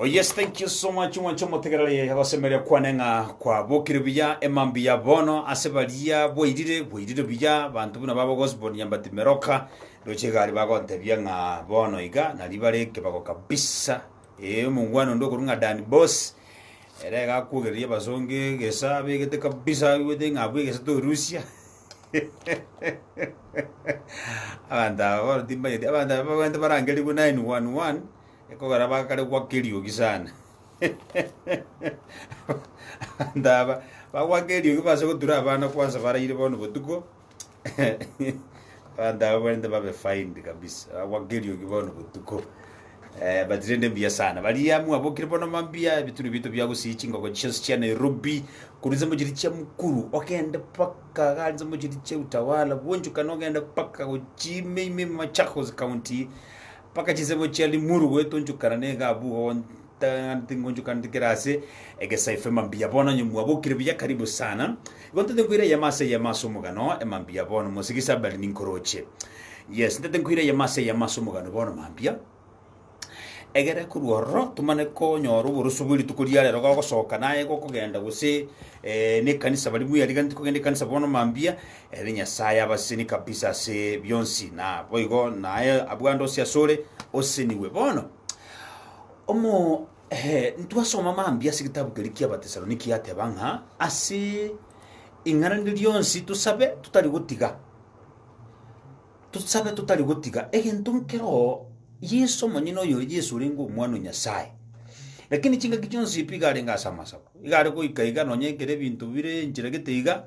Oh yes, thank you so much mwancho motegerere agosemeria kwane ng'a kwabokire buya emambi ya bono ase baria bwairire bwairire buya banto buna babo Gosbon Nyambati Meroka roche gari bagontebia ng'a bono iga nari bare kebago kabisa Ee, omongwana onde okorwa ng'a Dan Boss, ere iga akwogereria abasongo egesa, abegete kabisa, aigwete ng'a abwo egesa torusia. abanto aba bono timbanyeti, abanto aba babwenerete barangerigwe 911, ekogera bakare gwaka eriogi sana. abanto aba bagwaka eriogi base gotura abana kwansa baraire bono botuko. Abanto aba barente babe fined kabisa, bagwa keriogi bono botuko. Eh, but rende mbuya sana. Baria mwabokire bono mambia, ebituri bito biagosiyi chingoko chionsi chia Nairobi, korwa nsemo chiri chia Mukuru, ogende paka gari nsemo chiri chia Utawala, bwonchokane ogende paka gochime ime Machakos County, paka chinsemo chia Limuru goetonchokana na egabu, Tang'ani tingonchoka ndikere ase egesaife mambia bono onye mwabokire buya karibu sana igo ntete nkoira eyemo ase eyemo ase omogano emambia bono mosegi sabali ninkoroche yes ntete nkoira eyemo ase eyemo ase omogano bono mambia egere korwa ororo tomane konyora oboroso bwe rituko ria rero gogosoka naye gokogenda gose eh, nekanisa bari buya riga ntikogenda ekanisa bono mambia ere nyasaye abaseni kabisa ase bionsi na boigo naye abwande ose asore oseniwe bono Omo eh, ntwasoma mambia ase egetabu keria ki'Abatesaloniki yateba ng'a ase ing'ana rinde rionsi tosabe totari gotiga tosabe totari gotiga egento nkero Yeso omonyene oyo Yeso orenge omwana o Nyasaye. Lakini chingaki chionsi pi iga arenge ase amasabo. Iga are goika iga nonya ekero ebinto bire enchera gete iga,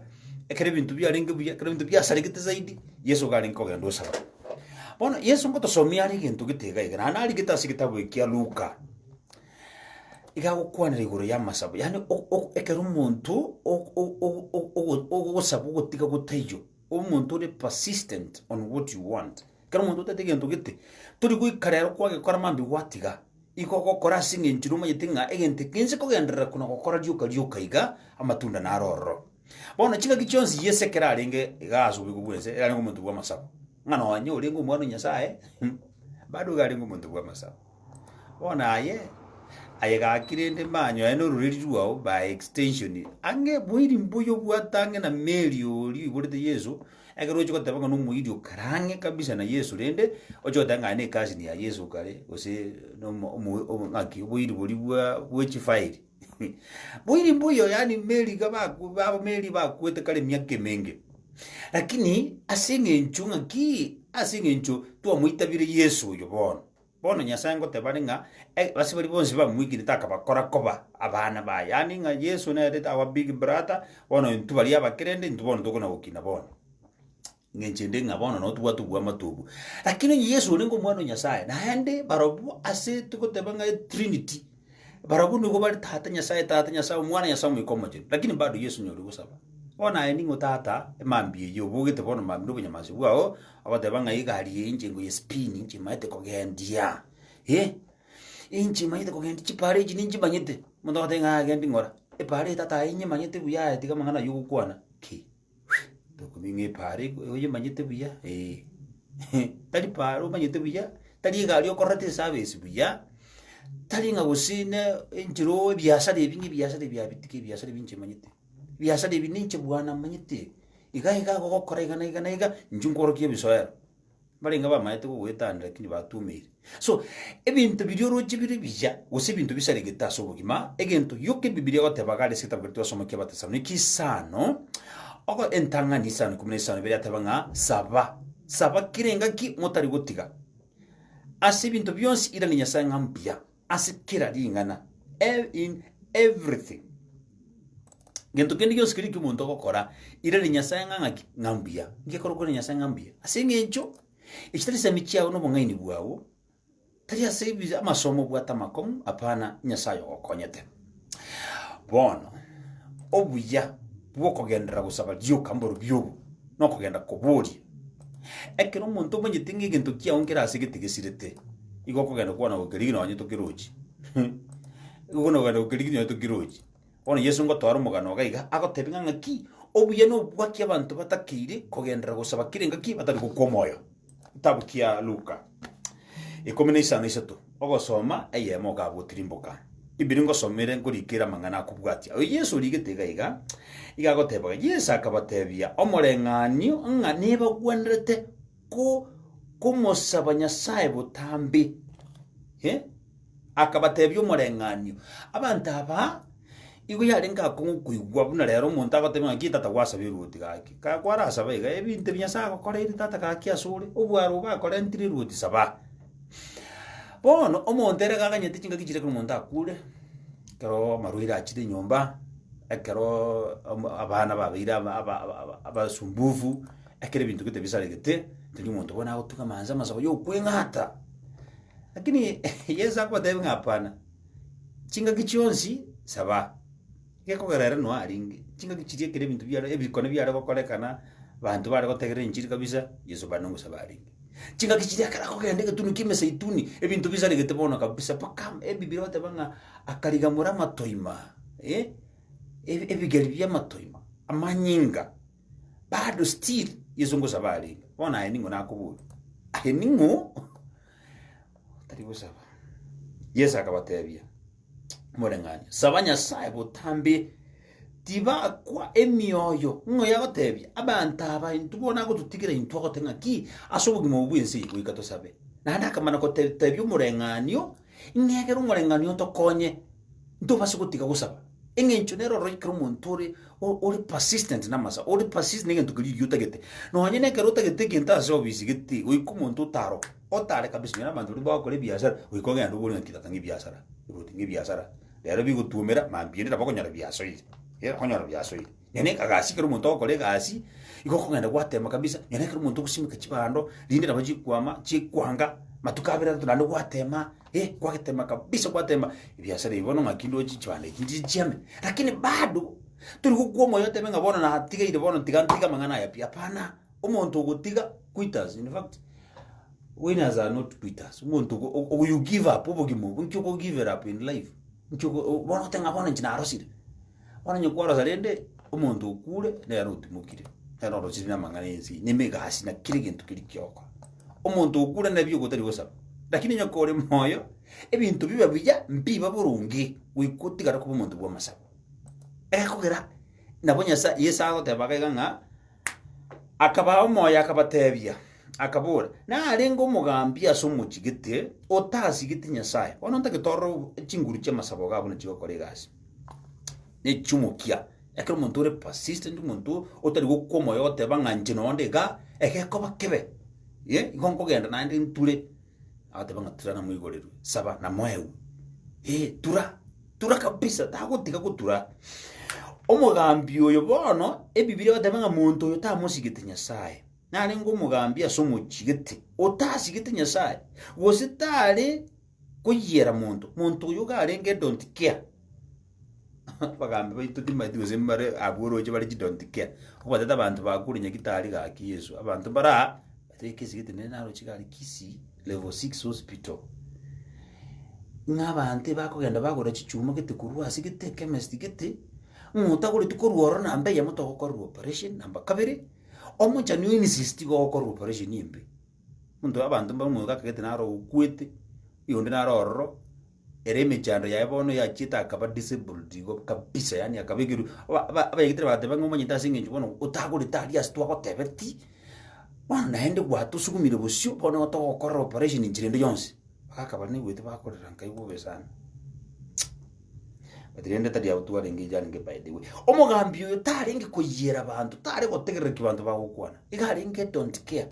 ekero ebinto biarenge buya, ekero ebinto biasaregete zaidi, Yeso iga arenge kogenda gosaba. Bono Yeso ngotosomia are egento gete iga iga, naende narigete ase egetabu ekia Luka, iga agokwanera igoro y'amasabo, yaani o- o- ekero omonto o- o- o- o- ogo- ogosaba ogotiga gotaiyo, omonto ore persistent on what you want. Ekero omonto otaete egento gete, tori goika rero kwagekora mambia gwatiga, igo ogokora ase eng'encho ere omanyete ng'a egento eke inche kogenderera kona gokora rioka rioka iga, amatunda naro ororo. Bono ching'aki chionsi Yeso ekero arenge igaa ase obobe bw'ense, yarenge omonto bw'amasabo. Ng'a nonye orenge omwana o Nyasae, bado iga arenge omonto bw'amasabo. Bono aye aye gaki rende manyoe nororeri rwao by extension ang'e moiri mbuya obwate ang'e na Mary oria oiborete Yeso ekero ochi goteba ng'a nomoiri okare ang'e kabisa na Yeso rende oche goteba ng'a aye ne cousin ya Yeso okare gose nomo omo omo ng'aki oboiri boria bwa bwe chifiri moiri mbuya yaani Mary iga baku baba Mary bakwete kare emiaka emenge lakini ase eng'encho ng'aki ase eng'encho twamoitabire Yeso oyo bono. Bono Nyasae ngoteba are ng'a ase baria bonsi bamoikerete akabakora koba abana baye. Yaani ng'a Yeso nere our big brother, bono intwe baria abakerende intwe bono tokona gokina bono. Eng'encho ende ng'a bono nabo tobwate oboamate obwo. Lakini onye Yeso orenge omwana o Nyasae, naende barobwo ase togoteba ng'a etrinity, barobwo nigo bare Tata, Nyasae Tata, Nyasae Omwana, Nyasae Omoika Omochenu. Lakini bado Yeso nonya oria ogosaba. Bono aye ning'o Tata, emambia eyio obogete bono mambia na obonyamansi bwao. Agoteba ng'a egari eye inche nkoye spini inche imaete kogendia eh, inche imaete kogendia chipara echi ninchimanyete, omonto agotebi ng'a agendi ng'ora, epara eye tata aye inyemanyete buya aye tiga amang'ana aywo ogokwana ki, tokobua ng'a epara eko oyemanyete buya eh, tari para omanyete buya, tari egari okorete esabesi buya, tari ng'a gose ne enchera oo ebiasara ebi ng'a ebiasara ebi abitige ebiasara ebi inche manyete. Ebiasara ebi ninche bwane manyete, iga iga gogokora iga na iga na iga, inche nkworokia ebisoera. Mbarenge bamaete kogoetania lakini batumeire. So, ebinto biria oroche bire ebiya, gose ebinto bisaregete ase obogima, egento gioka ebibilia egotebaga are ase egetabu keria twasoma kia Abatesaloniki isano, ogo entang'ani isano ikomi na isano ebiria yateba ng'a saba, saba kera engaki motari gotiga. Ase ebinto bionsi iranie Nyasae ng'a mbuya, ase kera ring'ana, ev- in everything. Gento kende gionsi keria eki'omonto ogokora, irari Nyasae ng'a ng'aki? Ng'a mbuya. Inki ekorwa kwere Nyasae ng'a mbuya? Ase eng'encho echi tari chisemi chiao na obong'aini bwao, tari ase ebi- amasomo obwate amakong'u, apana, Nyasae oyogokonyete. Bono, obuya bw'okogenderera gosaba rioka mborobio obo, nokogenda koboria. Ekero omonto omanyete ng'a egento kiao nkere ase gete gesirete, igo okogenda kwana gokerigia nonye tokirochi. Igo nogenda gokerigia nonye tokirochi. Bono Yeso ngotwara omogano iga iga, agotebia ng'a ng'aki, obuya nobwaki abanto batakeire kogenderera gosaba kera engaki batari gokwa omoyo. Getabu kia Luka ikomi na isano isato ogosoma eyemo okagotirimboka ibiri ngosomere nkorikera amang'ana akobwatia oyo Yesu origete iga iga iga agotebaga Yesu akabatebia omoreng'anio ng'a nebagwenerete ko komosaba Nyasaye botambe Eh? Akabateebia omoreng'anio, Abanto aba igo yarenge akong'u koigwa buna rero omonto agoteebia ng'aki tata gwasabe eruoti gaki. Ka kwarasaba iga, ebinto ebi Nyasae agokoreire tata gaki asore, obwaro obo akorentire eruoti saba. Bono omonto ere gakaganyete chingaki chire ekero omonto akure, ekero amarwaire achire enyomba, ekeroooo omo abana babeire aba- aba- aba- abasumbufu. Ekero ebinto gete bisaregete, tindi omonto bono agotung'ama inse amasabo y'okweng'ata. Lakini Yeso akobatebia ng'a hapana, chingaki chionsi saba. Gekogera ere noa arenge, chingaki chiria ekero ebinto biare, ebikone biare gokorekana, banto bare gotegerera enchiri kabisa, Yeso bande nogosaba arenge. Chingaki chiria ekero akogenda egetunwa ki'emeseituni, ebinto bisaregete bono kabisa, mpaka Ebibiri egoteba ng'a akarigamora amatoima, eh, ebi- ebigeri bi'amatoima, amanyinga. Bado still Yeso ngosaba arenge. Bono aye ning'o nakoboria? Aye ning'o otari gosaba? Yeso akabatebia, Moreng'anio, saba Nyasae botambe tibakwa emioyo, ng'o yagotebia abanto aba intwe bono agototigera intwe agote ng'a ki ase obogima obo bw'ense eye goika tosabe. Naende akamana gote- tebia omoreng'anio Ng'a ekero omoreng'anio otokonye, ntobase gotiga gosaba, eng'encho nere ororo ekero omonto ore o- ore persistent namasabo, ore persist negento keria oyio otagete. Nonye nekero otagete egento ase obisi gete, goika omonto otaroke, otare kabisa onye nabanto baria bagokora ebiasara, goika ogende obore ng'a tigata ng'ebiasara, rwoti ng'ebiasara, rero bigotuomera, mambia rira bakonyora biasoire, rira bakonyora biasoire. Nyoni ekagasi ekero omonto agokora egasi, igo okogenda gwatema kabisa, nyoni ekero omonto ogosimeka chibando, rinde nabo chikwama, chikwanga, matuko abere atato naende gwatema, eh, kwagetema kabisa kwatema, ebiasara ebi bono ng'aki ndoche chibando echi ndire chiame. Lakini bado, tori gokwa omoyo otebe ng'a bono natigeire bono tiga ntige amang'ana aya pi, hapana, omonto ogotiga quitters, in fact, winners are not quitters, omonto ogo- o- o you give up obogima obo, inki okogiver up in life? Inki oko o- bono oteba ng'a bono inche narosire. Onye kworosa rende omonto okure, nere otimokire, nere orochire namang'ana ense, ne emegasi, na kera egento keria kiokora. Omonto okure nabi ogotari gosaba. Lakini onye kore moyo, ebinto biba buya, mbiba boronge, goika otigare koba omonto bw'amasabo. Egekogera, nabo Nyasae, Yeso agoteba iga ng'a, Akabaa omoyo akabatebia, akabora, Narenge omogambi ase omochie gete otasigeti Nyasae, bono ntagete ororo chinguru chi'amasabo gaa buna chigokora egasi, ne chi'omokia. Ekero omonto ore persistent, omonto otari gokwa omoyo ogoteba ng'a inche nonde igaa, egekoba kebe, eh, igo nkogenda naende nture. Agateba ng'a tura namoigorerwe, saba namoewu. Ee, tura, tura kabisa, tagotiga gotura. Omogambi oyo bono, Ebibiri egateba ng'a monto oyo tamosigete Nyasae. Narenge omogambi ase omochigete, otasigete Nyasae, gose tare koyiera monto, monto oyo iga arenge edon't care. Abagambi baito timanyeti gose mbare abwo oroche bare chi don't care. Obatete abanto bakure Nyagetari gaki Yesu. Abanto mbare aa, bateba ekesi gete nere naroche gare Kisii Level six Hospital. Ng'a abanto bakogenda bagora chichuma gete korwa ase gete chemist gete, ng'a otagoretu korwa ororo namba eyemo togokorerwa operation, namba kabere, omonchani o insist iga ogokorerwa operation embe. Monto abanto mbare omogaka gete naro okwete, oyonde naro ororo. Ere emechando yaye bono yachiete akaba disabled igo kabisa yaani akabekerwa aba- aba- abayegetire bagateba ng'a omonyete ase eng'encho bono otagorete aria ase twagotebeti bono naende gwatosukumire bosio bono igo togokorera operation nchirende yonsi bagaka baria naigwete bakorera nkai bobe sana but rende tari abwo twarenge iga arenge by the way omogambi oyo tarenge koyiera banto tare gotegerera ki banto bagokwana iga arenge don't care.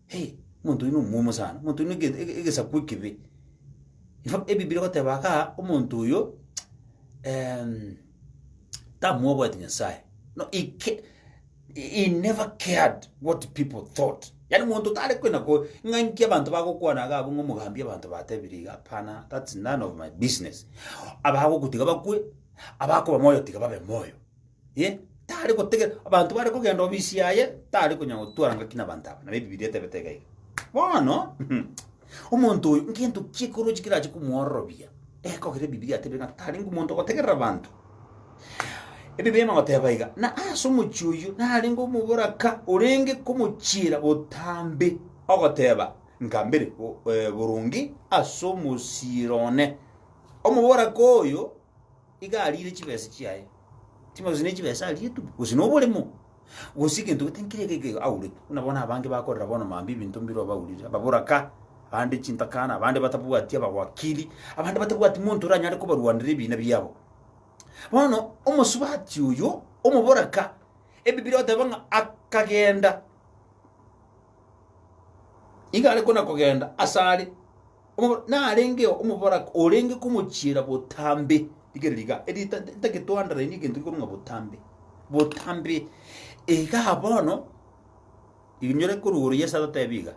Hey, omonto oyio nomwomo sana, omonto oyio nege- ege- egesaku ekibe. In fact, ebibiri egoteba kaa, omonto oyo em, tamwobwati Nyasaye. No, he ca- he never cared what people thought. Yaani monto tare kwenda ko ng'a inki abanto bagokwana iga abwo ng'a omogambi abanto batebire iga, hapana, that's none of my business. Abagokutiga bakwe, abakoba moyo tiga babe moyo. Eh, tare gotegera abanto bare kogenda obisi yaye tare konya gotwara ngaki nabanto aba nabo ebibilia etebete iga iga bono omonto oyo ngento kiekorochi kerache komwororobia ekogera ebibilia atebire ng'a tari ngomonto ogotegerera abanto ebibilia emagoteba iga na ase omochi oyo narenge omoboraka orenge komochiera botambe ogoteba nkambere bo- eh, boronge ase omosiiro one omoboraka oyo Iga ariire chibesa chiaye, chimbe gose ne chibesa ariire tu, gose noboremo, gose egento gete nkere geke iga aurete. Buna bono abange bakorera bono mambia ebinto mbire obaurire, ababoraka, abande chintakana, abande batabwati abawakiri, abande batabwati monto oranyare kobarwanera ebina biabo. Bono omosubati oyo, omoboraka, Ebibiri oteba ng'a akagenda, iga are kona kogenda asare. Omo- narengeo omoboraka orenge komochiera botambe, rigereria iga, eri ta- ta- tagetwanderainie egento gekorwa ng'a botambe, botambe, igaa bono, inyore korwa igoro Yeso atatebe iga,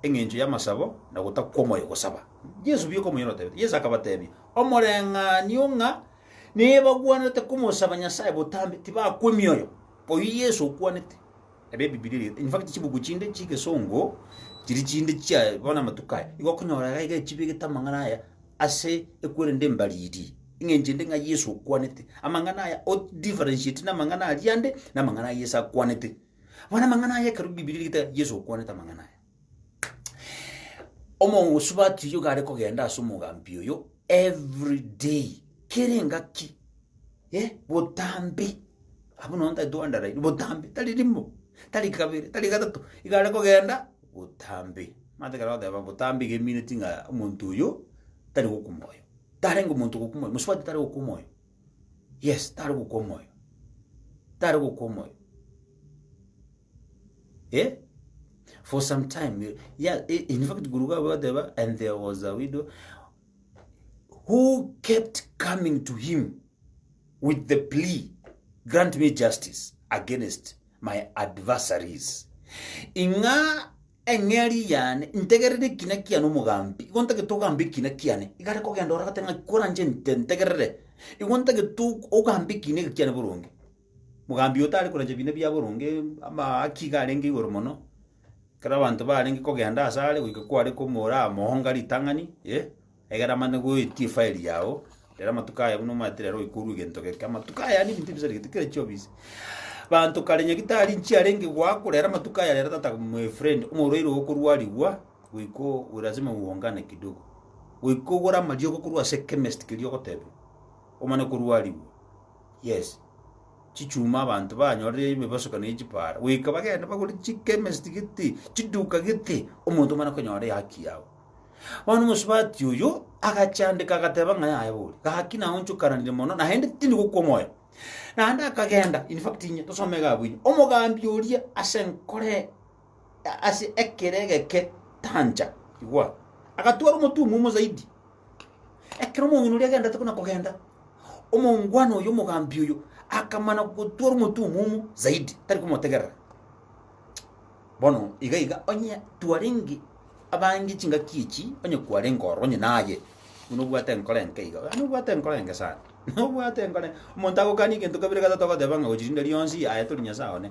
eng'encho y'amasabo na gotakwa omoyo gosaba. Yeso buya okomoira otebete, Yeso akabatebia, omoreng'anio ng'a nebagwenerete komosaba Nyasaye botambe, tibakwa emioyo, oyio Yeso okwanete. ab'Ebibilia eria, in fact, chibuku chinde chi'egesongo chiria chinde chia bono amatuko aya, igo okonyora iga iga echibegete amang'ana aya ase ekwerende embariri, eng'encho ende ng'a Yeso okwanete. Amang'ana aya odifferentiate na amang'ana aria ande, na amang'ana a Yeso akwanete. Bono amang'ana aya ekero Ebibilia erigete Yeso okwanete amang'ana aya. Omosubati oyio gare kogenda ase omogambi oyo every day, kera engaki, eh, botambe, abwo nonya ntari toendereri, botambe, tari rimo, tari kabere, tari gatato, iga are kogenda botambe. Manyete ekero bagoteba botambe iga emineti ng'a omonto oyo tari gokwa omoyo, tarenge omonto ogokwa omoyo, mosubati tari gokwa omoyo, yes, tari gokwa omoyo, tari gokwa omoyo. Eh? For some time, you- yeah, i- in fact, guru wabo bateba, and there was a widow who kept coming to him with the plea, grant me justice against my adversaries. Ing'a eng'eri yane ntegerere ekina kiane omogambi igo ntagete ogambe ekina kiane igare kogenda oragate ng'a koranche nte- ntegerere igo ntagete og- ogambe ekina eke kiane boronge Mogambi oyo tari korancha biina bia boronge, amaaki iga arenge igoro mono, ekero abanto barenge kogenda ase are goika kware komoramoonga ritang'ani, eh, egere amanye goetia efile yago, rero amatuko aya buna omanyete rero oika orue egento geke, amatuko aya yaani ebinto ebisarigete kera chiofisi. Banto kare nyagetari inche arenge goakwa rero amatuko aya rero tata my friend, omorwaire oo okorwarigwa, goika oo lazima uungane kidogo, goika ogore amariogo korwa ase chemist keria ogotebiwa, omane korwarigwa. Yes, chichuma abanto banyorire ebibasokani ne chipara, goika bagende bagore chikemesti gete, chiduka gete, omonto omana konyora ehaki yabo. Bono omosubati oyo agachandeka agateba ng'a yaya bori, gaki naonchokananire mono, naende tindi gokwa omoyo. Naende akagenda, in fact inye, tosome iga abwo inye, omogambi oria ase nkore. ase ekero egeke tancha, igwa, agatwara omotwe omomo zaidi. Ekero omong'ina oria agenderete buna kogenda, omongwana oyo omogambi oyo akamana gotwara omotwe omomo zaidi, tari komotegerera. Bono iga iga onye twarenge abange chingaki echi, onye kwarenge ororo onye naye, buna obwate enkoro enke iga, gaki nobwate enkoro enke sana, nobwate enkoro enke. Omonto agokani egento kabere gatato ogoteba ng'a gochiria rionsi aye tori Nyasae one.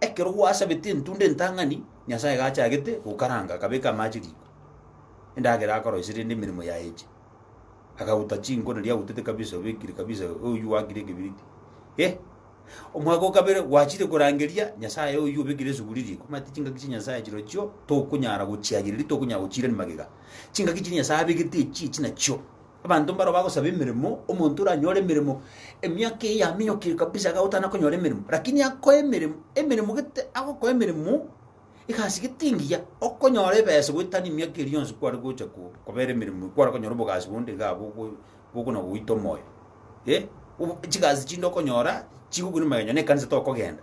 Ekero gwasabetie entunda entang'ani, Nyasae gachagete gokaranga, akabeka amache riko, endagera akoroisia rende emeremo yaye eche. Akaguta chinko naria agutete kabisa, obekire kabisa oyio gwakire ekebiriti. Eh! Omwaka o kabere gwachire korangeria Nyasae oyio obekire esuguri riko. Omanyete chingaki chia Nyasae chirochio tokonyara gochiagereria, tokonyara gochiirani magega. Chingaki chiria Nyasae abegete echi, echi nachio. Abanto mbaro bagosaba emeremo, omonto oranyore emeremo emiaka eyio yaminyokire kabisa iga agotana konyora emeremo, lakini akoe emeremo, emeremo gete agokoa emeremo egasi gete engiya, okonyora ebesa goetania emiaka eria yonsi kware gocha ko kobera emeremo kware konyora obogasi bonde iga abwo ogo bokona goita omoyo eh, obo chigasi chinde okonyora chigokuna magega onye na ekanisa tokogenda.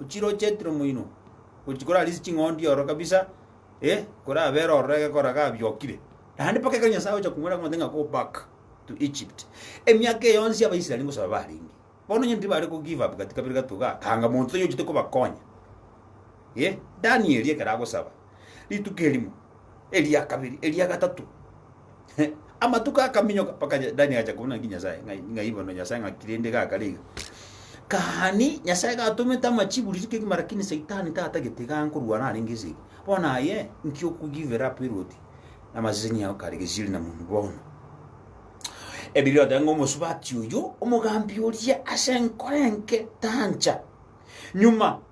ochire oo Jethro moino, gochia kore arise ching'ondi ororo kabisa, eh, kore abere ororo egekoro iga abiokire. Naende mpaka ekero Nyasae agocha komwera ng'a go back to Egypt. Emiaka eye yonsi Abaisraeli ngosoa barenge. Bono onye tibare ko give up gati kabere gato igaa, tanga monto tonya ochete kobakonya. Eh, Danieli ekero agosaba, rituko erimo, Eria kabiri, eria gatato, amatuko akaminyoka, mpaka Dani agacha kobuna ng'a Nyasae, ng'ai bono Nyasae ng'aki rende gakare iga? Gani, Nyasae gatomete amachibu riria kegima, rakini Saitani tatagete iga nkorwana arenge ase eke. Bono aye, nki oku give up erwoti na amaseseni ao kare gesieri na moni bono? Ebibe oteba ng'a omosubati oyo, omogambi oria, ase nkore enke, tancha nyuma.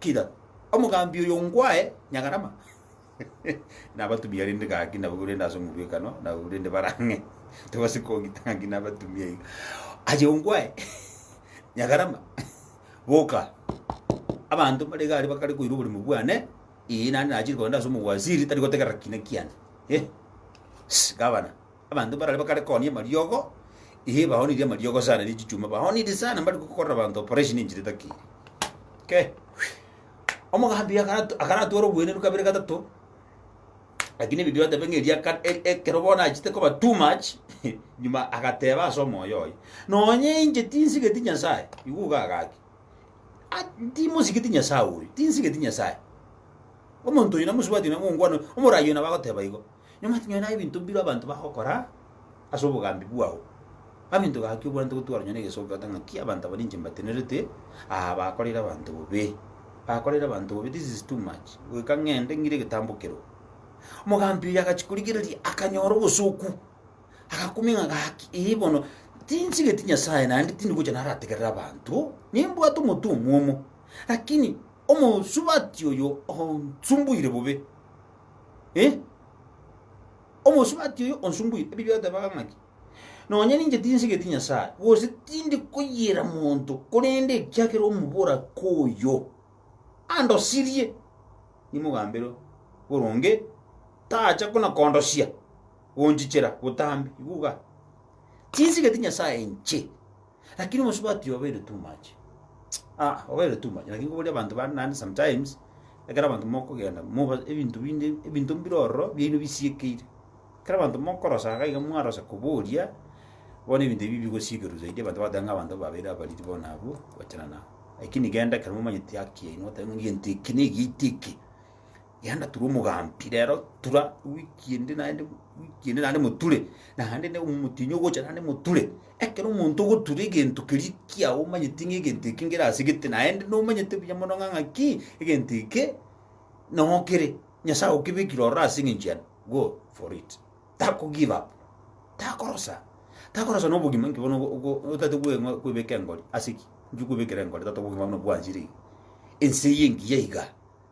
Kira omogambi oyo ngwae Nyagarama, nabatumia rende gaki nabwo rende ase omobwekano nabwo rende barang'e tobase kogita gaki nabatumia iga. Aye ongwae Nyagarama, boka abanto bare igare bakare koira oborimo bwane, ee, naende nachire kogenda ase omowaziri tari gotegerera kiina kiane. Eh, Ss, Gavana. Abanto barare bakare koonia amariogo, ee, baonirie amariogo sana ne chichuma, baonirie sana mbari gokorera abanto operation enchera etakeire. Ke, omogambi akara- akaratware obwenerwa kabere gatato, lakini Biblia otebe ng'a erio aka- e- ekero bono achete koba too much, nyuma agateba ase omoyo oye, nonya inche tinsigeti Nyasae, igwa iga agaki, a- timosigeti Nyasae oyo, tinsigeti Nyasae. Omonto oyo namosubati namo ongwana, omorayi oyo nabo agoteba igo. Nyomata nyore naye ebinto mbireo abanto bagokora ase obogambi bwao. Amento gaki obwanete igo twaronyora egesoki goeta ng'aki abanto aba ninche mbatenerete aa bakoreire abanto bobe. Bakoreire abanto bobe this is too much. Goika ng'ende ng'ire egetambo keroo. Omogambi oyo agachia korigereria akanyora obosoku. Agakumia ng'a gaki ee bono tinsigeti Nyasae naende tindi gocha narategerere abanto. Nimbwate omotu omwomo. Lakini omosubati oyo onsumbuire bobe. Eh! Omosubati oyo onsumbuire, ebibe atebaga ng'a ki? Nonya ninche tinsigeti Nyasae, gose tindi koyiera monto, korende ekiagera omoboraka oyo andosirie, nimogambere boronge, tacha buna kondosia, gonchichera botambe. Igwa igaa. Tinsigeti Nyasae inche. Lakini omosubati obeire too much. Ah, obeire too much. Lakini koboria abanto bare naende sometimes, ekero abanto mokogenda moba ebinto binde ebinto mbire ororo biaino bisiekeire. Ekero abanto mokorosa iga iga mwarosa koboria, bono ebinto ebi bigosiekerwa zaidi abanto bagoteba ng'a abanto babeire abariri bono abwo, gochana nabo. Lakini genda ekero momanyeti haki yaino, otebe ng'a egento eke na egento eke. Yanda tura omogambi rero tura wiki ende naende wiki ende naende moture naende ne omotinyi ogocha naende moture ekero omonto ogotura egento keria ekiagwa omanyeti ng'a egento eke ngere ase gete naende nomanyete buya mono ng'a ng'aki egento eke nogo kere nyasaye agokebekire ororo ase eng'encho yane go for it tako give up takorosa takorosa na obogima inki bono ogo- ogo- otate kwe- ng'a- kwebeka engori ase ki inki okwebekera engori tata obogima buna bwanchire iga ense eye engiya iga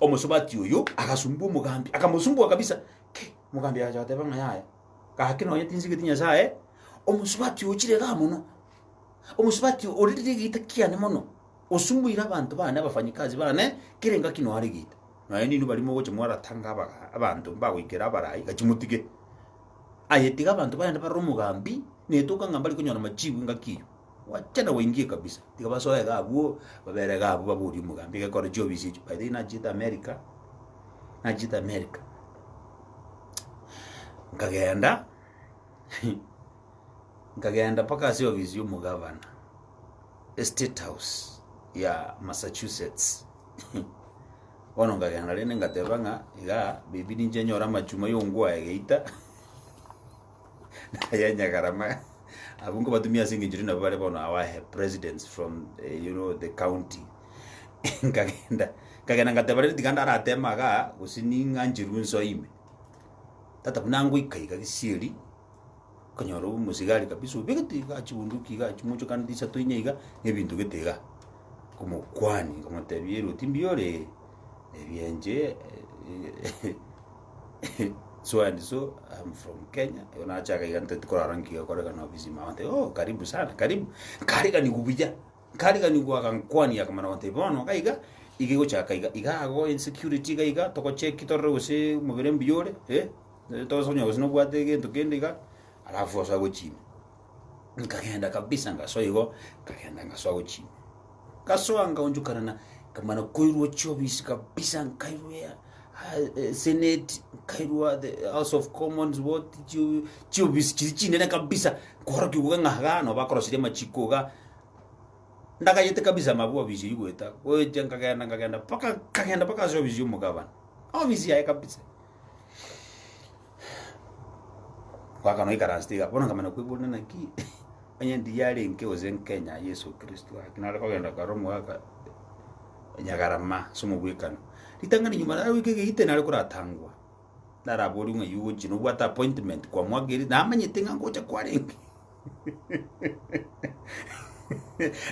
Omosubati oyio agasumbua omogambi, akamosumbua kabisa. Ki! Omogambi agacha goteba ng'a yaya, gaki nonye tinsigeti Nyasae, omosubati oyo chire igaa mono. Omosubati oyo orire egeita kiane mono, osumbuire abanto bane abafanyikazi bane kera engaki noare egeita. Nonye ninwe baria mogocha mwaratanga abaga- abanto mbagoikera abarai, gaki motige. Aye tiga abanto bagende barore omogambi, netoka ng'a mbarikonyora machibu engaki eyio. Gwacha na gwaingia kabisa, tiga basoe iga abwo, babere iga abwo baborie omogambi iga ekore chiofisi echio. By the way nachiete America, nachiete America, nkagenda nkagenda mpaka ase ofisi y'omogavana, estate house ya Massachusetts. Bono nkagenda rende nkateba ng'a igaa, baby ninche nyore amachuma yongwa aye geita. Ayanyagarama abwo nkobatumia ase engencho rinde nabo bare bono our presidents from eh, you know the county nkagenda nkagenda ngateba rende tiga ndaratema iga gose ning'ancherwe nso ime tata buna ngoika iga gisieri konyora omosigari kabisa obegete iga chibunduki iga chimochokanete isato ine iga na ebinto gete iga omokwani nkamotebia eroti mbiore ebienche so and so I'm from Kenya igo nache akaiga ntagete korara nki gekorekana ofisi ime abanto oh karibu sana karibu nkariganigwa buya nkariganigwa agankwania akamana gotebi bono iga iga iga egochaka iga iga ago insecurity iga iga togocheki torore gose omobere mbuya ore eh tosa konya gose nobwate egento kende iga alafu ase agochie ime. Nkagenda kabisa ngasoa igo, nkagenda ngasoa gochia ime. Ngasoa nkaonchokana na nkamana koirwa chiofisi kabisa, nkairwa ea- a- e- senate, nkairwa the house of commons what chi- chiofisi chiria chinene kabisa, nkaorokia iga ng'a igaa nabo bakorosirie amachiko igaa. Ndagachete kabisa amabwe ofisi eywo goeta, gocha nkagenda nkagenda mpaka nkagenda mpaka ase ofisi ya omogabana, ofisi yaye kabisa. Goaka noikaranse tiga, bono nkamanya koiborana naki, onye ndiyarenge gose nkenya Yeso Kristo ake nare kogenda kare omogaka nyagarama ase omobwekano. Ritang'ani nyuma naro goika egeite nare koratangwa, naraborio ng'a oyio ogochi nobwate appointment kwamoakeire, namanyete ng'a ngocha kwarenge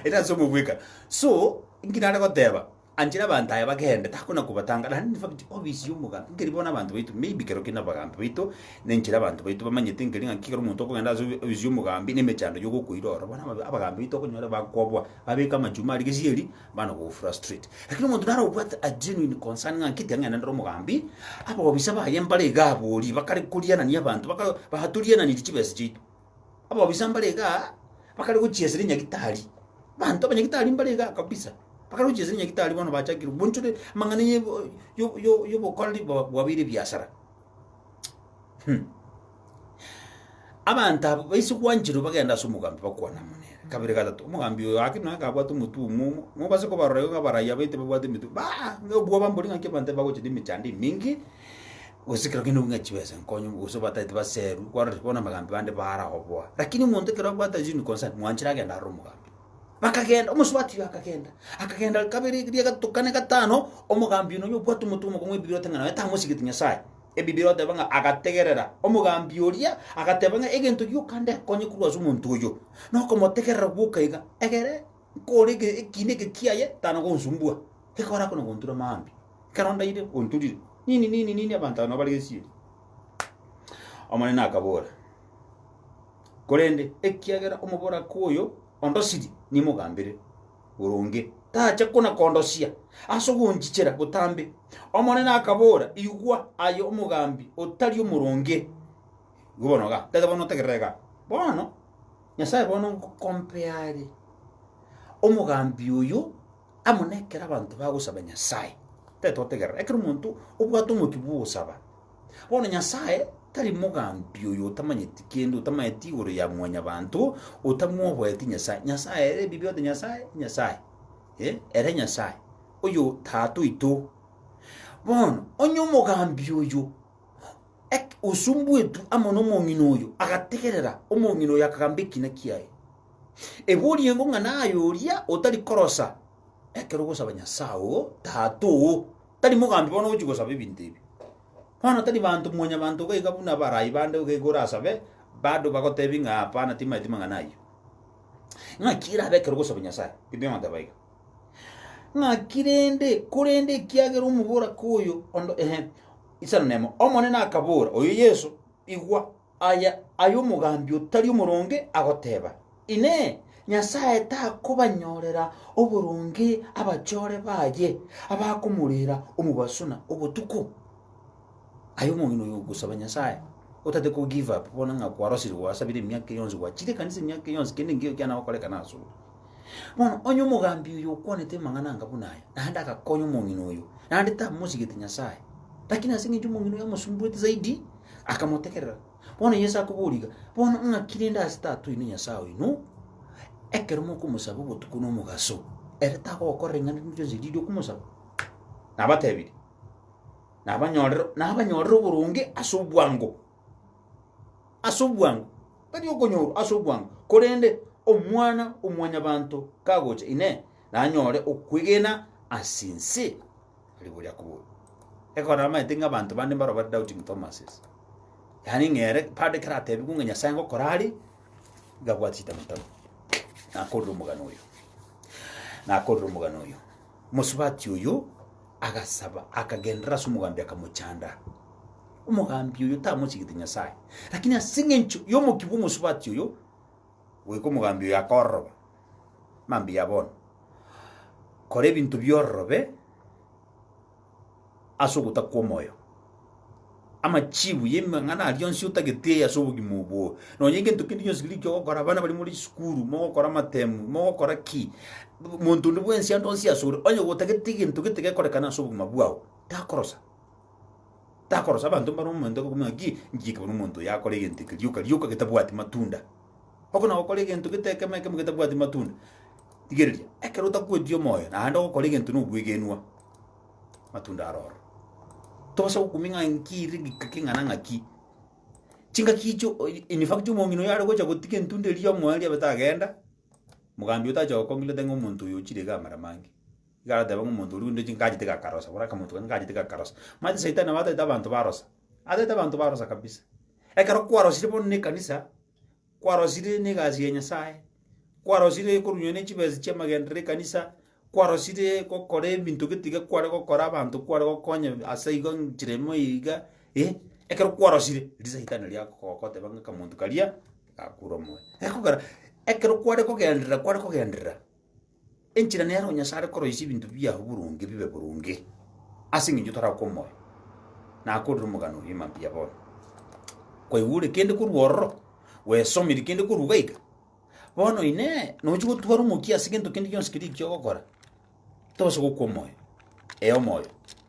ere ase omobwekano. So, nki nare goteba? Anchera abanto aya bagende, takona kobatanga, naende nefakiti obisi y'omogaati, nkeri bono abanto baito, maybe ekero kende abagaambi baito, na enchera abanto baito bamanyete nkeri ng'a ekero omonto okogenda ase obi- obisi y'omogaambi na emechando y'ogokoira ororo, bono aba- abagaambi baito okonyore bakoboa, babeke amachumia aria gesieri, bana kogofrustrate. Lakini omonto naro obwate a genuine concern ng'a nki tiang'aina nende omogaambi, abobisa baye mbare iga aborie, bakare korianania abanto, baka batoriananiri chibesa chiaito, Ababisa mbare iga bakare gochiesera enyagitari, abanto abanyagitari mbare iga kabisa, bakare gochiesera enyagitari bono bachakire bonchore amang'ana ya ebo- yo- yo- yobokoreri bwa- bwabeire ebiasara. Hum. Abanto aba baise gwancherwa bagenda ase omogambi bakwana amo nere, kabere gatato, omogambi oyo gaki naki abwate omotwe omomo, mobase kobarora igo abaraia baito babwate emetwe baa, ng'a obwoba mbori ng'aki abanto aba bagochia na emechando eminge, Gose ekero kende bwing'a chibesa nkonyu, gose obataete baseru, kwarorire bono abagambi bande baragoboa. Lakini omonto ekero abwate zinu concern, mwanchire agende arore omogambi. Bakagenda, omosubati oyo akagenda, akagenda kabere, ekeria, gato, kane, gatano, omogambi oino onya obwate omonto omokong'u ebibirwe ote ng'a naye tamosigeti Nyasaye. Ebibirwe oteba ng'a agategerera, omogambi oria agateba ng'a egento gioka ndekonye korwa ase omonto oyo, nokomotegerera gwoka iga, egere. Nkore eke, ekiina eke kiaye tana gonsumbua, ekore ako na gontura maambia. Ekero ndaire, onturire. Nini, nini, nini, abanto aba nabo bare gesieri. Omonene akabora, Korende ekiagera omoboraka oyo ondosiri, nimogambere boronge, tacha kona kondosia ase ogonchichera botambe. Omonene akabora, Igwa aye omogambi otari omoronge. Igo bono iga, tete bono notegerere iga. Bono Nyasae bono ngokompeare omogambi oyo amo nekero abanto bagosaba Nyasae. Tari totegerera, ekero omonto obwate omokia bw'ogosaba. Bono Nyasae tari mogambi oyo otamanyeti kende, otamanyeti igoro ya mwanyabanto, otamwoboeti Nyasae. Nyasae ere ebibe ote Nyasae, Nyasae. Eh, ere Nyasae, oyo Tata oito. Bono, onye omogambi oyo Eke, osumbuetwe amo nomong'ina oyo, agategerera, omong'ina oyo akagamba ekina kiaye. Ebe oriengo ng'a naye oria otari korosa ekero ogosaba Nyasae oo, Tata oo, tari mogambi bono ogochia gosaba ebinto ebi. Bono tari banto mwanyabanto iga iga buna abarai bande iga iga orasabe, bado bagotebie ng'a hapana, timaeti mang'ana ayio. Ng'aki erabe ekero ogosaba Nyasae? Biblia egoteba iga. Ng'aki rende, korende ekiagera omoboraka oyo onde, ehe, isano nemo. Omonene akabora, oyo Yeso, Igwa, aya aye omogambi otari omoronge agoteba, Inee, Nyasae takobanyorera oboronge abachore baye abakomorera omobaso na obotuko? Aye omong'ina oyo ogosaba Nyasae, otate ko give up bono ng'a kwarosire gwasabire emiaka eye yonsi gwachire ekanisa emiaka eye yonsi kende nkeiyo kiana gokorekana asore. Bono onye omogambi oyo okwanete amang'ana anga buna aya, naende agakonya omong'ina oyo, naende tamosigete Nyasae, lakini ase eng'encho omong'ina oyo amosumbuete zaidi, akamotegerera. Bono Yeso akoboria iga, bono ng'aki rende ase Tata oino Nyasae oino, ekero mokomosaba obotuko nomogaso, ere tagogokorera ring'ana rinde rionsi riria okomosaba? Nabatebirie. nabanyorere nabanyorere oboronge ase obwango, ase obwango, tari okonyorwa, ase obwango. Korende Omwana-o-mwanyabanto kagocha, Inee! nanyore okwegena ase ense? Riria boria akoboria. Ekero namaete ng'a abanto bande mbaro bare doubting Thomas's, yaani ng'a ere bado ekero atebigwe ng'a Nyasae ngokora are, iga abwate chitabu tabu, nakorire omogano oyo, nakorire omogano oyo. Omosubati oyio agasaba, akagenderera ase omogambi, akamochanda. Omogambi oyio tamochigete Nyasae, lakini ase engencho y'omokia bw'omosubati oyio, goika omogambi oyio akororoba. Mambia bono, kora ebinto bi'ororobe. ase ogotaka kw'omoyo. Amachiibu y'amang'ana aria onsi otagete ase obogima obwo. Nonya egento kende gionsi keria okogokora, abana baria more chisukuru, mogokora amatemu, mogokora ki, monto onde bwensi ande onsi asore, onye gotagete egento gete gekorekane ase obogima bwao, takorosa. Takorosa, abanto mbare omonto okobuna ng'aki, inchiki ekero omonto oyo akora egento eke rioka rioka getabwati matunda. Oko na gokora egento gete ekemo ekemo getabwati matunda. Rigereria, ekero otakweti omoyo, naende ogokora egento na obwegenwa. matunda aroro tobasa gokumia ng'a nki ere gika keng'ana ng'aki chingaki icho oi- in fact omong'ina oyo are gocha gotiga entunda eria omoyo riabe tagenda mogambi otacha gokong'ita teng'e omonto oyo ochire iga amara mange iga agateba ng'a omonto oria rende chingachete iga akarosa buna akamonto kare ngachete iga akarosa manyete saitani nabo ataete abanto barosa ataete abanto barosa kabisa ekero kwarosire bono na ekanisa. kwarosire negasi ya Nyasae, kwarosire korunywa ne chibesa chi'amagenderero ekanisa, kwarosire gokora ebinto getiga kware gokora abanto kware gokonya ase igo nchera emo eye iga eh, ekero kwarosire risaitani riria gogoteba ng'a akamonto karia gakure omoyo. Ekogera ekero kware kogenderera kware kogenderera. Enchera nero Nyasae are koroisia ebinto biao boronge bibe boronge, ase engencho tore aa kw'omoyo, na akorire omogano oria mambia bono. Kwaigwa ore kende korwa ororo, gwesomirie kende korwa iga iga, bono inee, nochi gotwara omokia ase gento kende gionsi keria ekio ogokora? Tobasa gokwa omoyo, ee omoyo,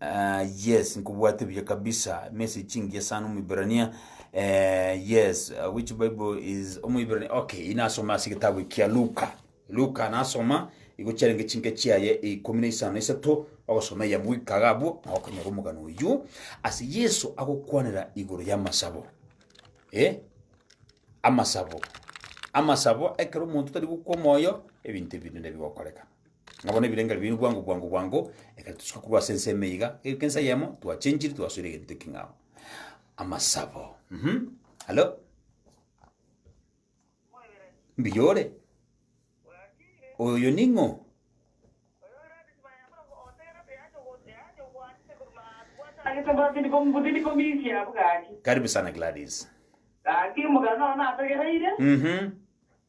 Ah yes nkobwate buya kabisa message engiya sana omoiberania eh, yes uh, which bible is omoiberania okay inasoma ase gitabu ekia luka luka nasoma igo chiarenge chinke chiaye ikumi na isano na isato ogosoma eyamo goikaga abwo na okonyora omogano oywo ase yeso agokwanera igoro y'amasabo eh? amasabo amasabo ekero omonto tari gokwa omoyo ebinto ebinene bigokorekana Ng'a bono ebirengererio biaino bwango bwango bwango, ekero tosoka korwa ase ense ime iga, egeka ense eyemo, twachenchiri twasoire egento ekeng'ao. Amasabo, mhm, halo? Mbuya ore? Oyo ning'o? Karibu sana Gladys. Mhm.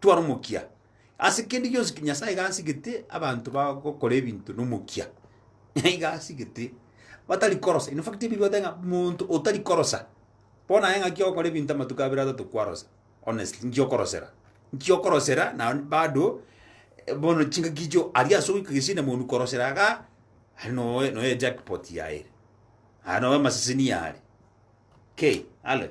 tware omokia. Ase kende gionsi ki Nyasaye iga asigete abanto bagokora ebinto na omokia, na iga asigete batari korosa. In fact, Ebibbia egoteba ng'a monto otari korosa, bono aye ng'aki ogokora ebinto amatuko abere atato kwarosa, honestly, nki okorosera? Nki okorosera na bado bono chingaki echio aria ase ogoika gesindamooni korosera igaa, aria noe noe ejackpot yaye ere, aria noe amaseseni yare, kei, ale.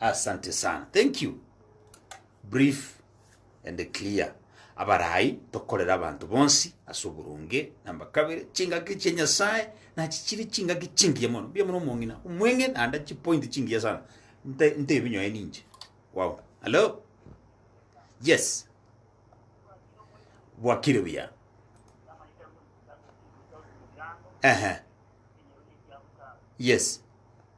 Asante sana. Thank you. Brief and clear. Abarai tokorera abanto bonsi ase oboronge namba kabere chingaki chia Nyasaye nachi chiri chingaki chingiya mono. Mbuya mono omong'ina. Omweng'e naende chipoint chingiya sana. Nte nte ebinyoe ninche. Wow. Hello. Yes. Bwakire buya. Ehe. Yes.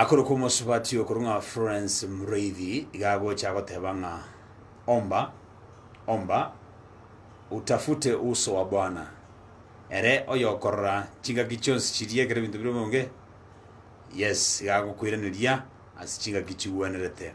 Akorokwa omosubati okorwa ng'a Florence Mureithi iga agocha agoteba ng'a omba omba utafute uso wa Bwana, ere oyokorora chingaki chionsi chiria ekero ebinto bire bionge, yes, iga agokoiraneria ase chingaki chigwenerete.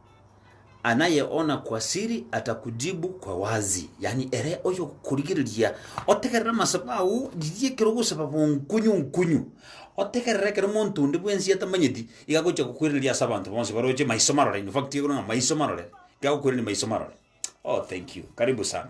Anayeona kwa siri atakujibu kwa wazi, yaani ere oyokorigereria, otegerere amasabo ao, riria ekero ogosaba bonkunyu nkunyu, otegerere ekero omonto onde bwensi atamanyeti, iga agocha kokoiraneria ase abanto bonsi baroche maiso marore, in fact igoro ng'a maiso marore, iga agokoiraneria maiso marore. Oh thank you, karibu sana.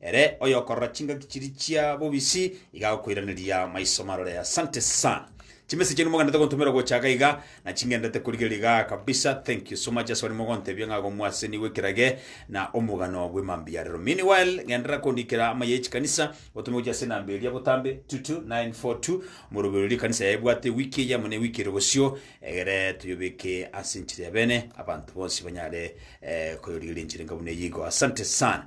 Ere oyokorora chingaki chiria chia bobisi iga agokoiraneria maiso marore. Asante sana. Chimessage chiaino mogenderete gontomera gocha iga iga, na chingenderete korigereria iga kabisa. Thank you so much ase abare mogontebia ng'a gomwaseni gw'ekerage na omogano bw'emambia arero. Meanwhile, genderera kondikera amaye y'echikanisa otome gochia ase enamba eria botambe 22942 omoroberio oria ekanisa yaye ebwate ewiki eye amo na ewiki ere bosio egere toyobeke ase enchera ya bene abanto bonsi banyare eh, koyorigereria enchera enga buna eyio igo. Asante sana.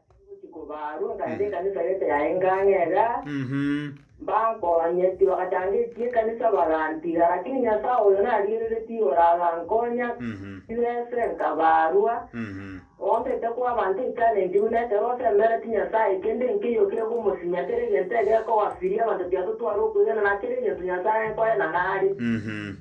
Ngochia kobaarwa, nkaenda ekanisa gete yaye nkang'erera, mbankonye. Tibagatangetie ekanisa bagantiga, lakini Nyasae oyo narigereretie igoro agankonya, tibese nkabaarwa. Ng'ombe etekwa abanto etalenti, buna ekero osemeretie Nyasae, kende nkeiyo kegomosimia, kera egento egekogafiria abanto tiatotware okwegena, na kera egento Nyasae nkoe na nare.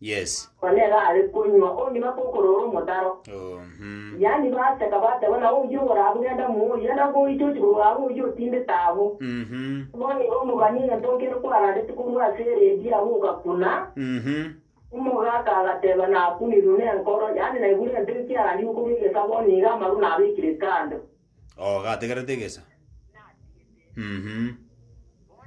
Yes. Onye nere are konywa onge na kokorora omotaro. Uhum. Yaani baseka bateba na oyio oborabu genda muoyo enda ngoiche ochi korwa abwo oyio otindete abwo. Uhum. Bono igo omobani egento nkere kwarandeti korwa ase eredi abwo ogakuna. Uhum. Omogaka agateba nakunirwe nenkoro yaani naiburwe ente ekiarandigwe korwa egesa bono iga amaru nabekire kando. Oo, gategerete egesa. Mhm.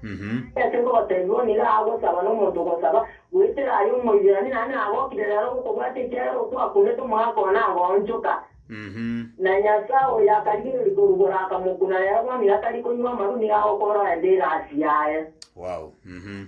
Mhm. Ase nkogoteebia bono nigo agosaba nomonto ogosaba, goetera aye Omoiberania, naende nagokire rero gokobwata ekiagera okwo akunete omogaka oo nagoonchoka. Mhm. Na Nyasae oyo akarigereria korugora akamokuna, rero bono nigo atari konywa amaru, nigo agokoorora endeera ase yaye. Wow. Mhm.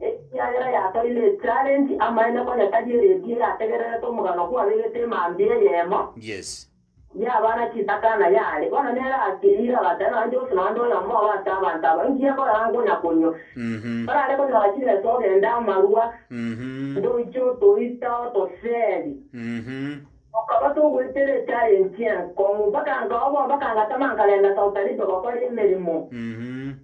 Ekiagera yatoire echarenji, amaene konya tari eredii eyategererete omogano kwabegete emambia eyemo. Yes. Yabana chitaka na yare. Bono nere akeira agateba, Nonye Josi nonde oyomo obo ase abanto aba, inki akorera nkonya konywa? Mhm. Orare konyora chibesa ogende amarua, Mhm. ndoiche otoita otoseri. Mhm. Tokaba togoetera echarenji enkong'u, mpaka nkaoboa, mpaka ngatama nkarenda Saudi Arabia gokora emeremo. Mhm.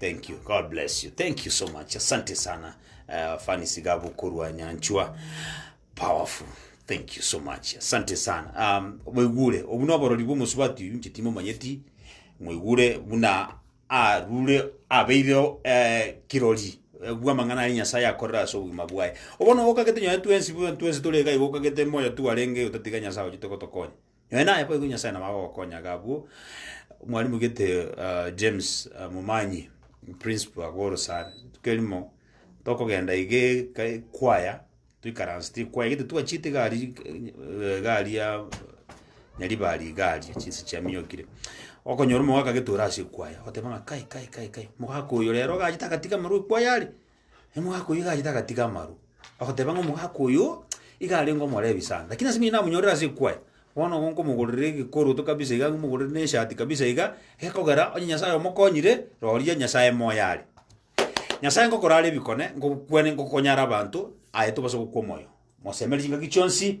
Thank you. God bless you. Thank you so much. Asante sana. Uh, fani sigabu kurwa nyanchwa. Powerful. Thank you so much. Asante sana. Um, mwigure obuna oborori bw'omusubati uyu nchitimo manyeti mwigure buna arure abeire eh, kirori eh, bw'amang'ana ari nyasaye akorera ase obogima bwaye obono gokagete nyoe twensi buna twensi tore iga iga okagete moyo tu arenge otatiga nyasaye ochi togotokonya Nonya naye boigo Nyasae nabo agogokonya iga abwo. Mwalimu gete ah, James ah, Momanyi, principal agwo Orosare, kerimo tokogenda iga eka ekwaya, toikaransete ekwaya gete twachete iga aria eh, iga aria Nyaribari iga aria chinse chiaminyokire. Okonyora omogaka gete ore ase ekwaya, oteba ng'a kai kai kai kai, mogaka oyo rero iga achete agatiga amarwa ekwaya are. omogaka oyio iga achete agatiga amaru, bagoteba ng'a omogaka oyo iga arenge omorebi sana, lakini ase ng'a namonyorire ase ekwaya, bono igo nkomogorera egekoroto kabisa iga nkomogorere na eshati kabisa iga, gekogera onye Nyasaye omokonyire, roria Nyasaye moyo are. Nyasaye ngokora are ebikone, ngokokwana ngokonyara abanto, aye tobasa gokwa omoyo. Mosemeri chingaki chionsi.